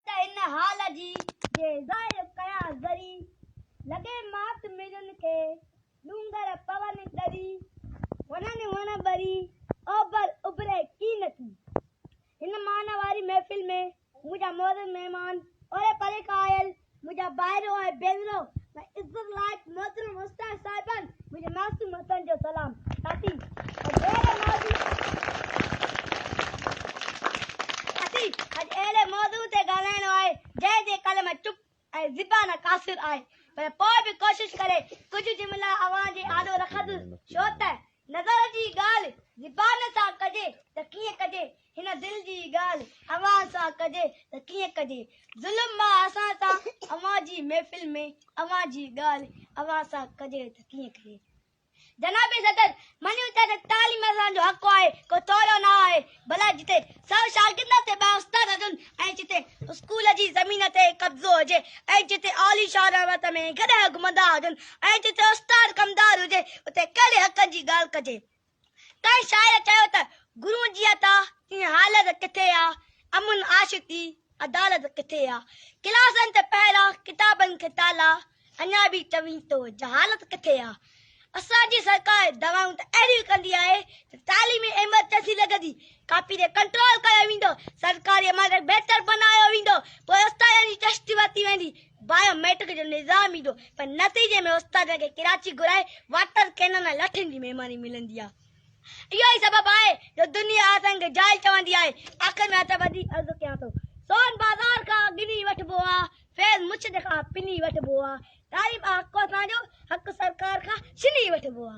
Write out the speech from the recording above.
ته ان حال جي جي ظاهر ڪيان ذري، لڳي مات ميرن کي، ڏونگر پون ڏري، وڻن وڻ ٻري، اوڀر اڀري ڪي نه ٿي. هن معنيٰ واري محفل ۾ منهنجا معزز مهمان اوري پري کان آيل منهنجا ڀائرو ۽ ڀينرو ۽ عزت لائق محترم استاد صاحبان منهنجي معصوم هٿن جو سلام ساٿي اڄ اهڙي موضوع تي ڳالهائڻو آهي جنهن جي قلم چپ ۽ زبان قاصر آهي پر پوء به ڪوشش ڪري ڪجهه جملا اوهان جي آڏو رکندس ڇو ته نظر جي ڳالهه زبان سان ڪجي ته ڪيئن ڪجي هن دل جي ڳالهه اوهان سان ڪجي ته ڪيئن ڪجي؟ ظلم مان اسان سان اوهان جي محفل ۾ اوهان جي ڳالهه اوهان سان ڪجي ته ڪيئن ڪجي؟ جناب صدر مڃيو ٿا ته تعليم اسان جو حق آهي ڪو تولو نه آهي ڀلا جتي سؤ شاگرد تي ٻه استاد هجن ۽ جتي اسڪول جي زمين تي قبضو هجي ۽ جتي عاليشان عمارت ۾ گڏهه گهمندا هجن ۽ جتي استاد ڪمدار هجي اتي ڪهڙي حقن جي ڳالهه ڪجي؟ ڪنهن شاعر چيو ته گرون جي عطا ۽ حالت ڪٿي آ، امن عاشقي عدالت ڪٿي آ، ڪلاسن تي پهرا ڪتابن کي تالا، اڃا به چوين تو جهالت ڪٿي آ. اسان جي سرڪار دعوائون ته اهڙيون ڪندي آهي ته تعليمي ايمرجنسي لڳندي، ڪاپي تي ڪنٽرول ڪيو ويندو، سرڪاري عمارتن کي بهتر بنايو ويندو، پوء استادن جي چشت ورتي ويندي، بايو ميٽرڪ جو نظام ايندو پر نتيجي ۾ استادن کي ڪراچي گهرائي واٽر ڪينن ۽ لٺين جي مهماني ملندي آهي اهو ئي سبب آهي جو دنيا اسان کي جاهل چوندي آهي آخر ۾ هت وڌي عرض ڪيان ٿو سون بازار کان گني وٺبو آ فيض مچڏ کان پني وٺبو آ تعليم آ حق اسان جو حق سرڪار کان ڇني وٺبو آ